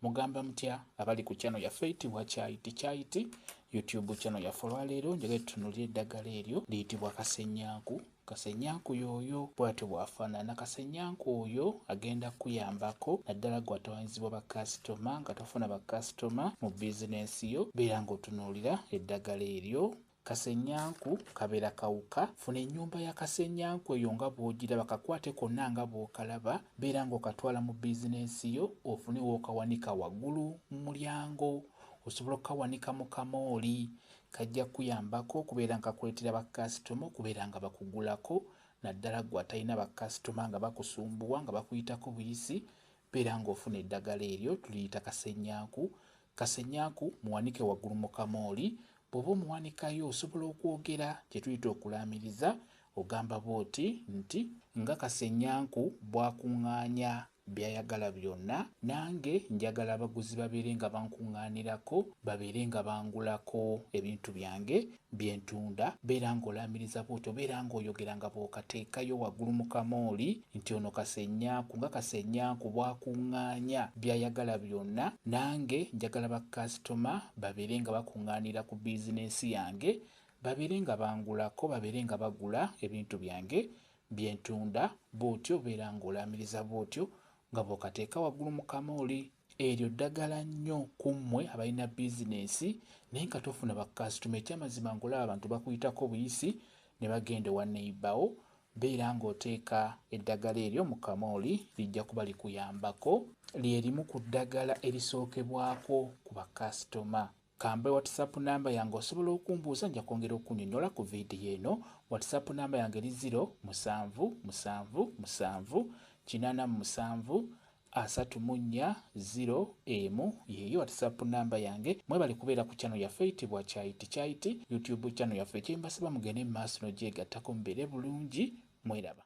Mugamba mutya abali ku channel yaffe eyitibwa Kyayiti Kyayiti YouTube channel yaffe olwaleero njagala tutunulire eddagala eryo liyitibwa kasenyanku kasenyanku yooyo bwatyo bwafaanana kasenyanku oyo agenda kukuyambako naddala gwatawanyizibwa bakasitoma nga tofuna bakasitoma mu bizinensi yo beera ng'otunuulira eddagala eryo Kasenyanku kabera kawuka, funa enyumba ya kasenyanku eyo nga bwojiraba kakwate konna nga bwokalaba, beera nga okatwala mu bizinensi yo ofune wokawanika wagulu mu mulyango, osobola okukawanika mu kamooli, kajja kuyambako okubeera nga kakuletera ba kasitoma okubeera nga bakugulako naddala gwe atalina ba kasitoma nga bakusumbuwa nga bakuyitako buyisi, beera nga ofuna eddagala eryo tuliyita kasenyanku, Kasenyaku muwanike waggulu mu kamooli, bw'oba omuwanikayo osobola okwogera kye tuyita okulaamiriza, ogamba bw'oti nti, Nga Kasenyanku bw'akuŋŋaanya by'ayagala byonna, nange njagala abaguzi babeere nga bankuŋŋaanirako, babeere nga bangulako ebintu byange bye ntunda, beera ng'olaamiriza bw'otyo, beera ng'oyogera nga bw'okateekayo waggulu mu kamooli nti ono Kasenyanku nga Kasenyanku bw'akuŋŋaanya by'ayagala byonna, nange njagala bakasitoma babeere nga bakuŋŋaanira ku bizinensi yange, babeere nga bangulako, babeere nga bagula ebintu byange bye ntunda, bw'otyo beera ng'olaamiriza bw'otyo nga bw'okateeka waggulu mu kamooli. Eryo ddagala nnyo ku mmwe abalina bizinensi naye nga tofuna bakasitoma. Ekyamazima ng'olaba abantu bakuyitako buyisi ne bagenda ewa neyibawo, beera ng'oteeka eddagala eryo mu kamooli lijja kuba likuyambako. Lye limu ku ddagala erisookebwako ku bakasitoma. Kampe WhatsApp number yange osobola okumbuuza nja kwongera okunyonyola ku video eno. WhatsApp number yange li 0 musanvu musanvu musanvu kinana mu musanvu asatu mu nnya 0 emu yeyo WhatsApp number yange. Mwebale kubeera ku channel yaffe itibwa Chaiti Chaiti YouTube channel yaffe kyembasaba mugende mu maaso n'ogyegattako mubeere bulungi mweraba.